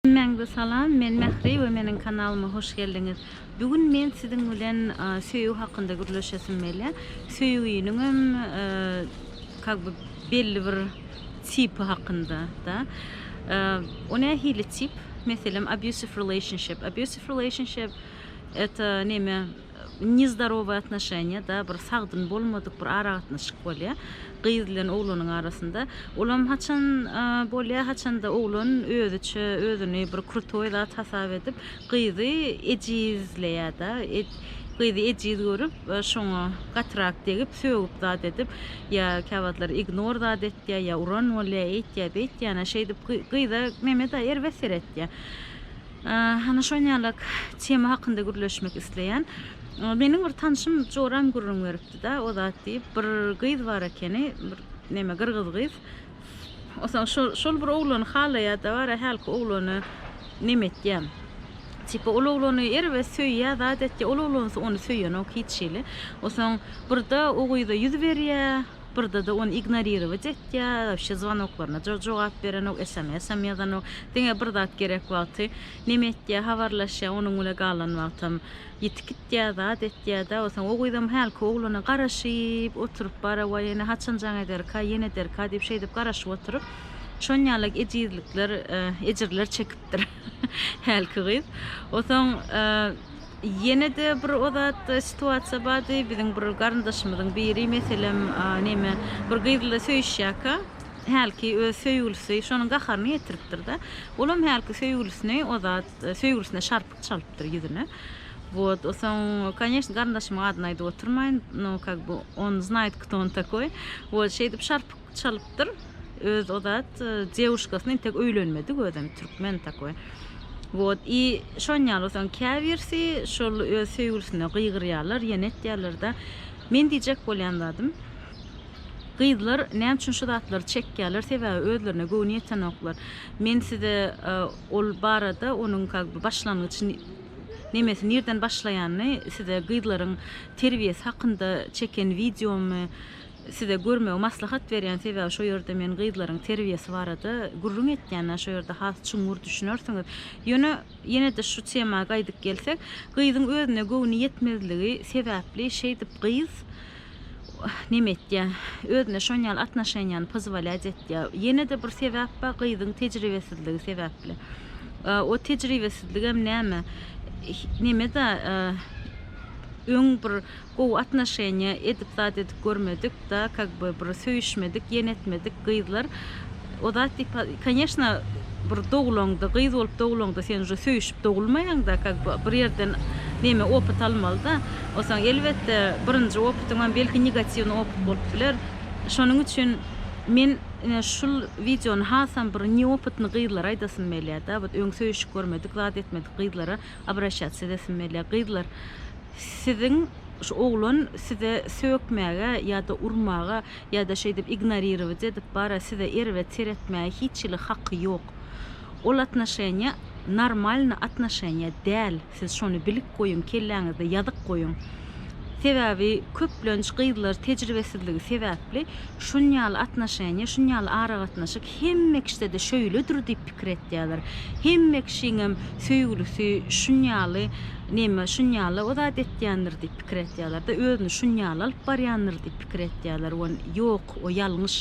Hemmäňize salam, men Mähri we meniň kanalyma hoş geldiňiz. Bu gün men siziň bilen söýgi hakynda gürleşesim gelýä. Söýginiňem kak by belli bir tipi hakynda da. O nähili tip? Meselem abusive relationship. Abusive relationship eta neme? Nezdarowy atnoşeniýa da bir sagdyn bolmadyk bir aragatnaşyk bolýa gyz bilen oglanyň arasynda olam haçan bolýa haçanda oglan özüçe özüni bir krutoý zat hasap edip gyzy ejizleýä da gyzy ejiz görüp şoňa gatyrak degip sögüp zat edip ýa käwagtlar ignor zat etýä ýa uran bolýa eýtýä beýtýä ýana şeýdip gyza meme da erbet seretýä. Hany şon ýalak tema hakynda gürleşmek isleýän. Meniň bir tanşym joram gürrüň beripdi-da, o zat diýip, bir gyz bar ekeni, bir neme gyrgyz gyz. Osaň şol şol bir oglany halaýa-da bara hälki oglany neme etýä. Tipa ol oglany erbet söýýä, zat etýä, ol oglansa ony söýenok hiç hili. Osaň birde o gyza ýüz berýä, Birdede ony ignorировать etýä, wabşe zwanoklarna jo jogap berenok, esamesam ýazanok. Diňe bir zat gerek wagty neme etýä, habarlaşýa, onuň bile galan wagtam ýitip gitýä, zat etýä-dä. Bolsa o gyzam hälki oglana garaşyp oturyp bara waý ene haçan jaň ederka, ýene ederka diýip şeýdip garaşyp oturyp şon ýalak ejizlikler, ejirler çekipdir hälki gyz. Osaň Ýene-de bir o zat situasiýa bardy. Biziň bir garyndaşymyzyň biri, meselem, neme, bir gyz bilen söýüşýärkä, hälki öz söýgülisi şonuň gaharyny getiripdir-de. Olam hälki söýgülisini o zat, söýgülisine şarpyk çalypdyr ýüzüne. Wot, o soň, koneşn, garyndaşymyň adyny aýdyp oturmaýyn, no, kak by, on znaýt kto on takoý. Wot, şeýdip şarpyk çalypdyr öz o zat devuşkasyny intek öýlenmedik özem türkmen takoý wot i şon ýaly bolsaň käbirsi şol öz söýgülisine gygyrýarlar ýene etýärler da men diýjek bolýan zadym gyzlar näme üçin şu zatlary çekýärler sebäbi özlerine göwni ýetenoklar men size e, ol barada onuň как бы başlangyç nemesi nirden başlaýanyny size gyzlaryň terbiýesi hakynda çeken wideomy Size görmegi maslahat berýän sebäbi şo ýerde men gyzlaryň terbiýesi barada gürrüň etýänä şo ýerde has çuňňur düşünersiňiz. Ýöne ýene-de şu tema gaýdyp gelsek, gyzyň özüne göwni ýetmezligi sebäpli şeýdip gyz neme etýä, özüne şon ýaly atnoşeniýany pozwolýat etýä. Ýene-de bir sebäp bar, gyzyň tejribesizligi sebäpli. O tejribesizligem näme, neme-da öň bir Gowy atnoşeniýa edip zat edip görmedik da kak by bir söýüşmedik ýene etmedik gyzlar o zat diýip koneşna bir dogulaňda gyz bolup dogulaňda sen uje söýüşip dogulmaýaňda kak by bir ýerden neme opyt almalyda onsoň elbetde birinji opytyňam belki negatiwny opyt bolup biler şonuň üçin men ine şul wideony hasam bir neopytny gyzlara aýdasym melýa da ot öň söýüşip görmedik zat etmedik gyzlara Obraşatsiýa edesim gelýär. Gyzlar, siziň şu oglan size sökmäge ýa-da urmaga ýa-da şeýdip ignorirować edip bara size erbet seretmäge hiç hili haky ýok. Ol atnoşeniýa normalny atnoşeniýa däl, siz şony bilip goýuň, kelläňizde ýazyp goýuň. Sebäbi köplenç gyzlar tejribesizligi sebäpli şunýaly atnoşeniýa, şunýaly aragatnaşyk Hemme kişide-de şöýledir diýip pikir etýärler. Hemme kişiňem söýgülisi şunýaly neme, şunýaly o zat etýändir diýip pikir etýärler-de, özüni şunýaly alyp barýandyr diýip pikir etýärler. Wan, ýok, o ýalňyş.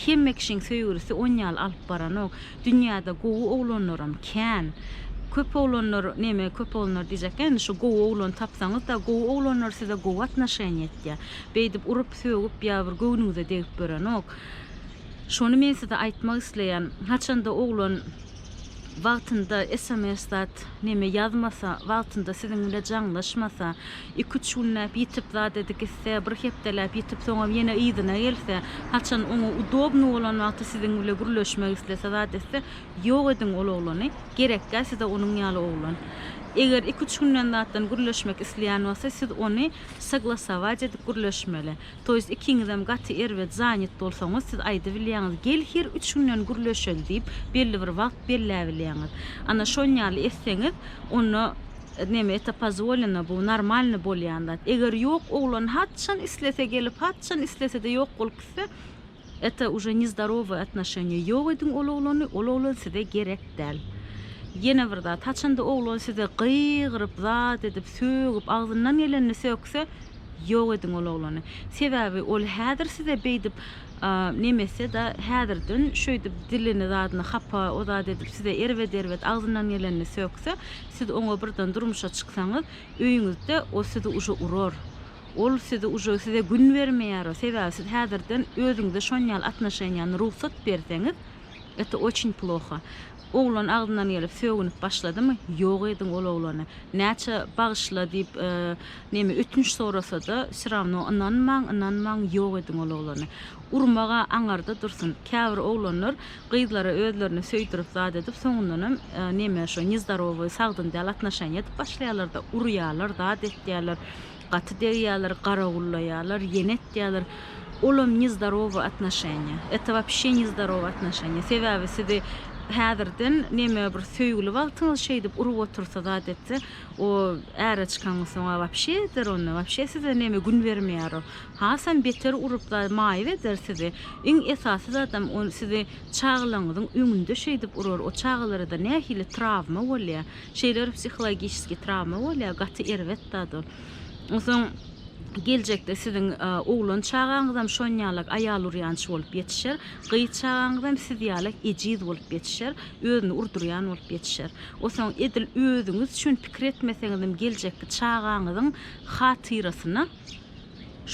Hemme kişiň söýgülisi onýaly alyp baranok. Dünýäde gowy oglanlaram kän. Köp oglanlar, neme, köp oglanlar diýjekkä, indi şu gowy oglan tapsaňyz-da, gowy oglanlar size gowy atnoşeniýa etýär. Beýdip urup-sögüp ýa bir göwnüňize degip ýörenok. Şony men size aýtmak isleýän, haçanda oglan wagtynda sms zat neme ýazmasa, wagtynda siziň bile jaňlaşmasa, iki üç günläp ýitip zat edi gitse, bir hepdeläp ýitip soňam ýene yzyna gelse, haçan oňa udobny bolan wagty siziň bile gürleşmek islese zat etse, ýok ediň ol oglany, gerekkä size onuň ýaly oglan. Eger iki üç günden zatdan gürleşmek isleýän bolsa siz ony soglasować edip gürleşmeli. To jest ikiňizem gaty erbet zanyt bolsaňyz siz aýdybilýäňiz gel her üç günden gürleşeli diýip belli bir wagt belläbilýäňiz ana şonýaly etseňiz onda neme eta pozwoleno bu normalny bolýan zat eger ýok oglan haçan islese gelip haçan islesede ýok bolup gitse Eta uje ne zdarovoy atnoşeniýa ýok ediň ol oglany ol oglan size gerek däl ýene bir zat haçanda oglan size gygyryp zat edip sögüp agzyndan gelenini sökse ýok ediň ol oglany sebäbi ol häzir size beýdip nemeseda häzirden şöýdip dilini zadyny hapa o zat edip size erbet erbet agzyndan gelenini sökse siz oňa birden durmuşa çyksaňyz öýüňizde o sizi uje urar Ol sizi uje size gün bermeýär sebäbi siz häzirden özüňize şonýaly atnoşeniýany rugsat berseňiz это очень ploha oglan agzyndan gelip sögünip başladymy ýok ediň ol oglany näçe bagyşla diýip neme ötünç sorasada syrawno ynanmaň ynanmaň ýok ediň ol oglany urmaga aňarda dursyn käbir oglanlar gyzlara özlerini söýdürip zat edip soňundanam neme şo nezdarowy sagdyn däl atnoşeniýa edip başlaýarlarda urýarlar zat etýärler. Gaty degýäler, garawullaýalar, ýene etýäler. Olam nezdarowy atnaşenýa. Eta wapşe nezdarowy atnaşenýa. Sebäbi sizi häzirden neme bir söýgüli wagtyňyz şeýdip urup otursa zat etse, o äre çykangyz soň-a wapşe eder onda, wapşe size neme gün bermeýär o. Hasam beter urup za maýyp eder sizi. Iň esasy zadam o sizi çagalaňyzyň öňünde şeýdip urar. O çagalara-da nähili trawma bolýa. Şeýle bir psihologiçeskiý trawma bolýar, gaty erbet zat ol. Onsoň geljekde siziň oglan çagaňyzam şon ýalak aýal urýançy bolup ýetişer, gyz çagaňyzam siz ýalak ejiz bolup ýetişer, özüni urdurýan bolup ýetişer. Onsoň edil özüňiz üçin pikir etmeseňizem geljekki çagaňyzyň hatyrasyna,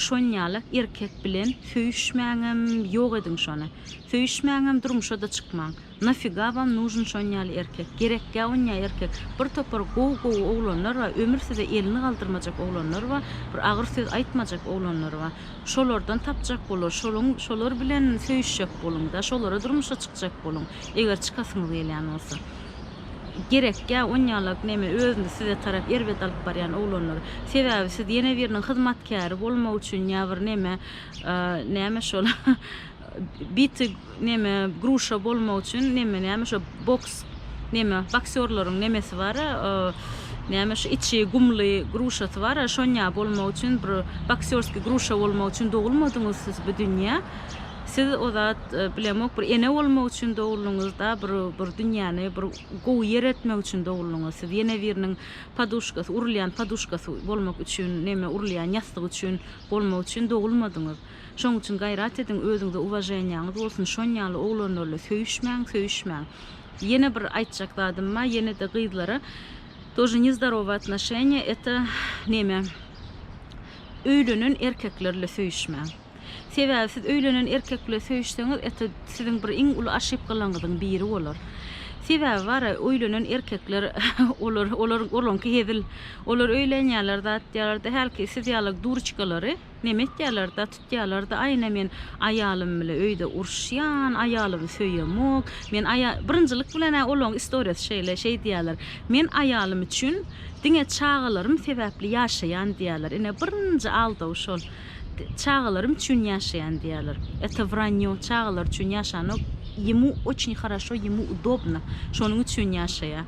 Şonýalak erkek bilen söýüşmäňem ýok ediň şony. Söýüşmäňem durmuşada çykmaň. Nafyga wam nužn şonýaly erkek. Gerekgä onýa erkek. Bir topar gowy gowy oglanlar ba ömür size elini galdyrmajak oglanlar ba bir agyr söz aýtmajak oglanlar ba şolardan tapjak bolar şoluň şolar bilen söýüşjek boluňda şolara durmuşa çykjak boluň eger çykasyňyz gelýän bolsa. Gerekýä onýalak neme özüni size tarap erbet alyp barýan oglanlar. Sebäbi siz ýene biriniň hyzmatkäri bolmak üçin ýa bir neme näme şol bity neme gruşa bolmak üçin neme näme şo boks neme boksýorlaryň nemesi bara näme şu içi gumly gruşasy bara şonýa bolmak üçin bir boksýorski gruşa bolmak üçin dogulmadyňyz siz bu dünýä Siz o zat bilemok bir ene bolmak üçin doguldyňyz da bir bir dünýäni bir gowy ýer etmek üçin doguldyňyz siz ýene biriniň poduşkasy urulýan poduşkasy bolmak üçin neme urulýan ýassyk üçin bolmak üçin dogulmadyňyz şoň üçin gaýrat ediň özüňize uwaženiýaňyz bolsun şon ýaly oglanlarla söýüşmäň söýüşmäň ýene bir aýtjak zadym ba ýenede gyzlara тоже nezdarowy atnoşeniýa eta neme öýlenen erkeklerle söýüşmäň. Sebäbi siz öýlenen erkek bile söýüşseňiz eta siziň bir iň uly aşypgalaňyzyň biri bolar. Sebäbi bara öýlenen erkekler olar olar olaňky hezil. Olar öýlenýärler da atýarlarda hälki siz ýalak durçkalary neme etýärler da tutýarlarda aýna men aýalym bile öýde uruşýan aýalymy söýemok men aýa birinjilik bilen ä olaň istoriýasy şeýle şeý diýýärler men aýalym üçin diňe çagalarym sebäpli ýaşaýan diýýärler ine birinji aldaw şol. Çagalarym üçin ýaşaýan diýýärler. Это враньё, çagalar üçin ýaşanok, ýemu oçni haraşo, ýemu udobno, şonuň üçin ýaşaýa.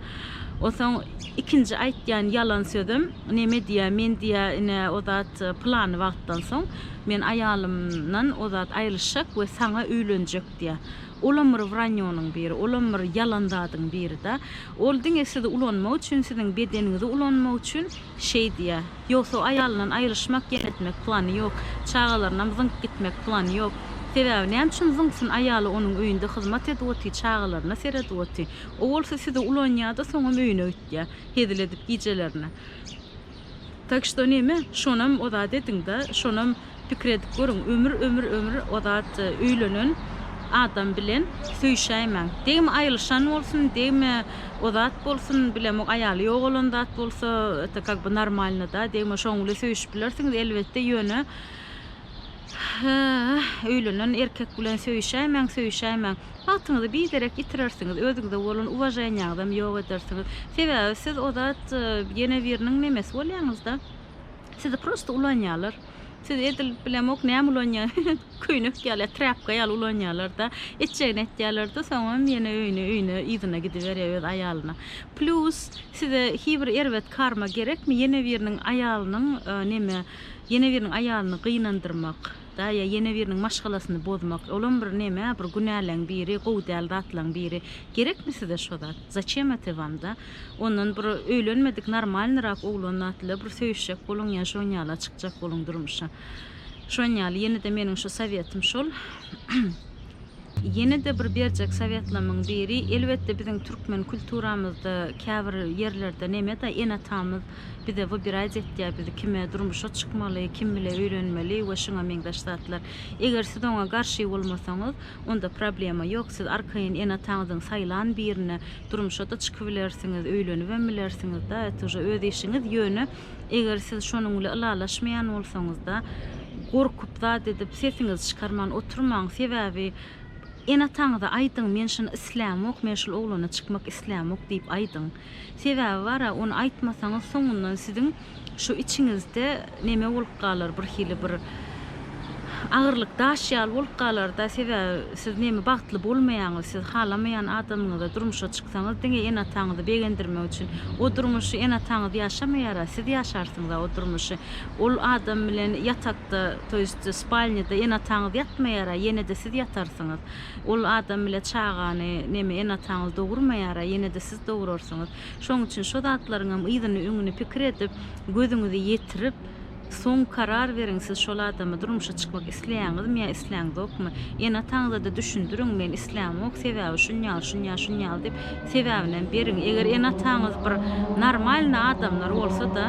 Osaň ikinji aýtýan ýalan sözem, neme diýýä, men diýýä ine o zat plany wagtdan soň men aýalymdan o zat aýrylyşjak we saňa öýlenjek diýýä. Olam bir wranýonyň biri, olam bir ýalan zadyň biri-da. Ol diňe sizi ulanmak üçin, siziň bedeniňizi ulanmak üçin şeý diýýä. Ýogsa aýalyndan aýrylyşmak, ýenetmek plany ýok. Çagalarynam zyňyp gitmek plany ýok. Sebäbi näme üçin zyňsyn, aýaly onuň öýünde hyzmat edip oty, çagalaryna seredip oty. O bolsa sizi ulanýada soňam öýüne gitýä. Hezil edip gijelerine. Tak şto neme, şonam ozat ediňda, şonam. Pikir edip görüň, ömür, ömür, ömür o zat öýlenen adam bilen söýüşäýmäň. Degme aýylyşan bolsun, degme o zat bolsun, bilemok aýaly ýogalan zat bolsa, это как бы normalno-da, degme şoň bile söýüşip bilersiňiz, elbetde, ýöne öýlenen erkek bilen söýüşäýmäň, söýüşäýmäň. Wagtyňyzy biderek ýitirersiňiz, özüňize bolan uwaženiýaňyzam ýok edersiňiz. Sebäbi siz o zat ýene biriniň nemesi bolýaňyz-da. Sizi prosta ulanýarlar. Siz edil bilemok näme ulanýar. Köýnek ýaly, trapka ýaly ulanýarlar-da. Etjegini etýärler-de, soňam ýene öýüne, öýüne, yzyna gidiberýär öz aýalyna. Plýus size hibir erbet karma gerekmi? Ýene biriniň aýalynyň, e, neme, ýene biriniň aýalyny gynandyrmak. Daýa ýene biriniň maşgalasyny bozmak, olam bir neme, bir günäleň biri, gowy däl zatlaň biri. Gerekmi size şo zat? Zaçem ete wam da? Ondan bir öýlenmedik normalnyrak oglan datla bir söýüşjek boluň ýa şon ýala çykjak boluň durmuşa. Şon ýaly ýene-de meniň şu sowetym şol. Ýene-de bir berjek sowetlamyň biri, elbetde biziň türkmen kulturamyzda käbir ýerlerde neme-da ene-atamyz bize wybirać etýär, biz kime durmuşa çykmaly, kim bile öýlenmeli we şuňa meňzeş zatlar. Eger siz oňa garşy bolmasaňyz, onda problema ýok, siz arkaýyn ene-ataňyzyň saýlan birine durmuşa-da çykybilersiňiz, öýlenibem bilersiňiz-da, et uje öz işiňiz, ýöne, Eger siz şonuň bile ylalaşmaýan bolsaňyzda, gorkup zat edip sesiňizi çykarman oturmaň, sebäbi ene-ataňyza aýdyň, men şuny islämok, men şul oglana çykmak islämok diýip aýdyň. Sebäbi bar-a, ony aýtmasaňyz soňundan siziň şu içiňizde neme bolup galar, birhili bir agyrlyk daş ýaly bolup galar-da, sebäbi, Siz neme bagtly bolmaýaňyz siz halamaýan adamyňyza durmuşa çyksaňyz diňe ene ataňyzy begendirmek üçin o durmuşy ene ataňyz ýaşamaýara siz ýaşarsyňyza o durmuşy ol adam bilen ýatakda to ýest spalnýada ene ataňyz ýatmaýara ýenede siz ýatarsyňyz ol adam bile çagany neme ene ataňyz dogurmaýara ýenede siz dogurarsyňyz şoň üçin şo zatlaryňam yzyny öňüni pikir edip gözüňizi ýetirip Soň karar beriň siz şol adama durmuşa çykmak isleýäňizmi ýa isläňzokmy? Ene-ataňyzada düşündiriň men islämok sebäbi şunýaly şunýaly şunýaly diýip sebäbinem beriň eger ene-ataňyz bir normalny adamlar bolsada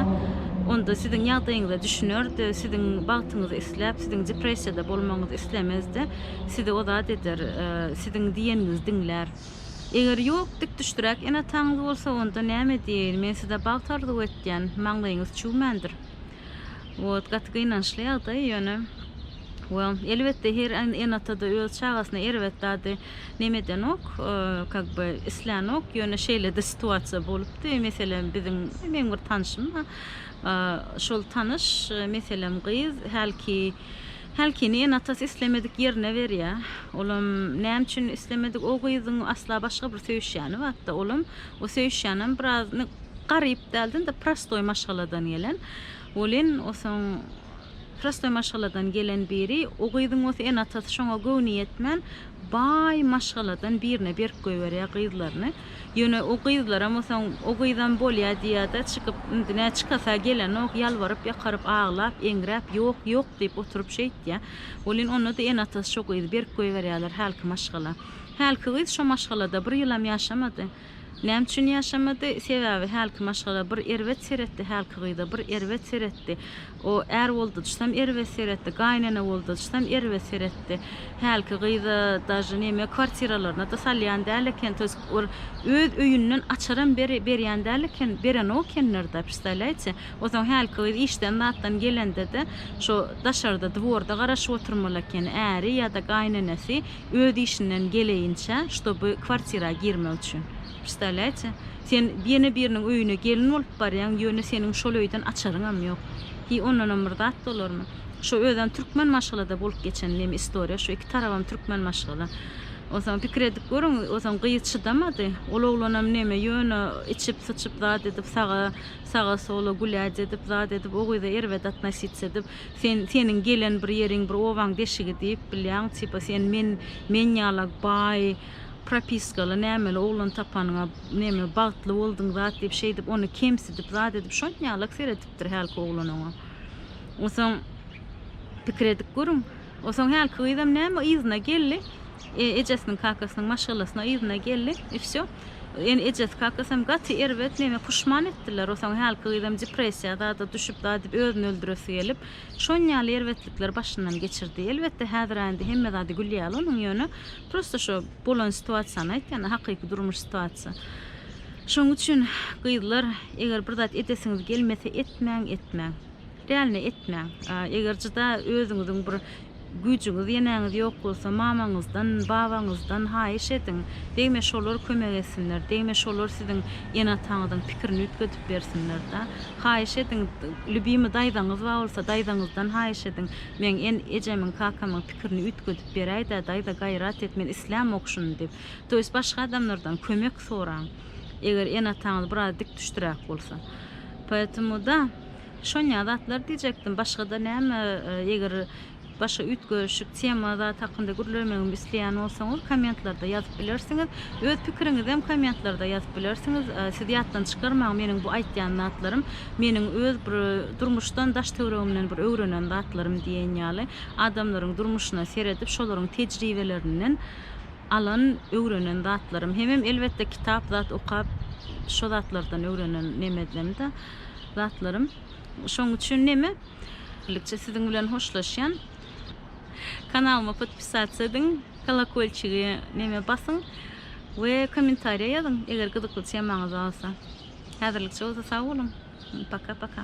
onda siziň ýagdaýyňyza düşünerdi siziň bagtyňyzy isläp siziň depressiýada bolmagyňyzy islemezdi sizi ozat eder siziň diýeniňizi diňlär eger ýok dikdüşdräk ene-ataňyz bolsa onda näme diýeýin men size bagt arzuw etýän maňlaýyňyz çüwmändir. Wot gaty gynançly ýagdaý ýöne we elbetde her ene-atada öz çagasyna erbet zady neme edenok, kak be islänok, ýöne şeýle-de situasiýa bolupdy. Meselem, biziň meň bir tanşym bar. Şol tanyş, meselem, gyz hälki hälkini ene-atasy islemedik ýerine berýär. Olam näme üçin islemedik, o gyzyň asla başga bir söýüşýäni batda, olam o söýüşýänem biraz garyp dälden-de prostoý maşgaladan gelen. Welin, osaň prostoý maşgaladan gelen biri, o gyzyň oz ene-atasy şoňa göwni ýetmän, baý maşgaladan birine berip goýberýär gyzlaryny. Ýöne o gyzlaram osaň o gyzam bolýa diýýä-de, çykyp, indi nä çykasa gelenok, ýalbaryp-ýakaryp, aglap, eňräp, ýok, ýok diýip oturyp şeýtýä. Welin, onda-da ene-atasy şo gyzy berip goýberýärler hälki maşgala. Hälki gyz şo maşgalada bir ýylam ýaşamady. Näme üçin ýaşamady? Sebäbi hälki maşgala bir erbet seretdi, hälki gyza bir erbet seretdi. O är boldajysam erbet seretdi, gaýynene boldajysam erbet seretdi. Hälki gyza daže neme kwartiralaryna-da salýan däl eken, to ýest bir öz öýünden açaram beri berýän däl eken, berenok ekenler-da, prstalýaýte. Onsoň hälki gyz işden zatdan gelende-de, şo daşarda dworda garaşyp oturmaly ekeni, äri ýa-da gaýynenesi. öz işinden geleýinçä ştoby kwartira girmek üçin. Prsdawlýaýte? Sen ýene biriniň öýüne gelin bolup barýaň ýöne seniň şol öýden açaryňam ýok. Hiý ondanam bir zat bolarmy? Şo özem türkmen maşgalada bolup geçen neme istoriýa şo iki tarabam türkmen maşgala. Onsoň pikir edip görüň onsoň gyz çydamady. Ol oglanam neme ýöne içip syçyp zat edip saga saga sola gulýac edip zat edip o gyza erbet atnosic edip Sen seniň gelen bir ýeriň bir obaň deşigi diýip bilýäň tipa sen men men ýala baý propiskaly nämeli oglan tapanyňa neme bagtly boldyň zat diýip şeýdip ony kemsidip zat edip şon ýalak seredipdir hälki oglan oňa onsoň pikir edip görüň onsoň hälki gyzam näme yzyna geldi. Ejesiniň kakasynyň maşgalasyna yzyna geldi i vsё. Eni ejesi kakasam gaty erbet neme puşman etdiler osaň hälki gyzam depressiýa zada düşüp zat edip özüni öldüresi gelip şon ýaly erbetlikler başyndan geçirdi elbetde häzira indi hemme zady gül ýaly onuň ýöne prosta şo bolan situasiýany aýtýan hakyky durmuş situasiýa şoň üçin gyzlar eger bir zat edesiňiz gelmese etmäň etmäň. Dälini etmäň. Eger juda özüňiziň bir güýjüňiz, ýeneňiz ýok bolsa, mamaňyzdan, babaňyzdan haýyş ediň. Degme şolar kömek etsinler, degme şolar siziň ene-ataňyzyň pikirini üýtgedip bersinler-de. Haýyş ediň, lýubimy daýzaňyz bar bolsa, daýzaňyzdan haýyş ediň, Meň en-ejemiň, kakamyň pikirini üýtgedip beräý-dä, daýza, gaýrat et, men islämok şuny diýip. To ýest başga adamlardan kömek soraň, eger ene-ataňyz biraz dikdüşdüräk bolsa. Poýetemoda, Şonýa zatlar diýjekdim, başgada näme eger başga üýtgeşik tema zat hakynda gürlemegimi isleýän bolsaňyz kommentlarda ýazyp bilersiňiz. Öz pikiriňizem kommentlarda ýazyp bilersiňiz. Siz ýatdan çykarmaň meniň bu aýtýan zatlarym meniň öz bir durmuşdan daş töwregimden bir öwrenen zatlarym diýen ýaly adamlaryň durmuşyna seredip şolaryň tejribelerinden alan öwrenen zatlarym hemem elbetde kitap zat okap şo zatlardan öwrenen nemedlemde zatlarym. Şoň üçin neme? Birlikçe siziň bilen hoşlaşýan. Kanalyma podpisasiýa ediň, kolokolçigi neme basyň we kommentariýa ýazyň, eger gyzykly temaňyz bolsa. Häzirlikçe bolsa sag boluň. Paka-paka.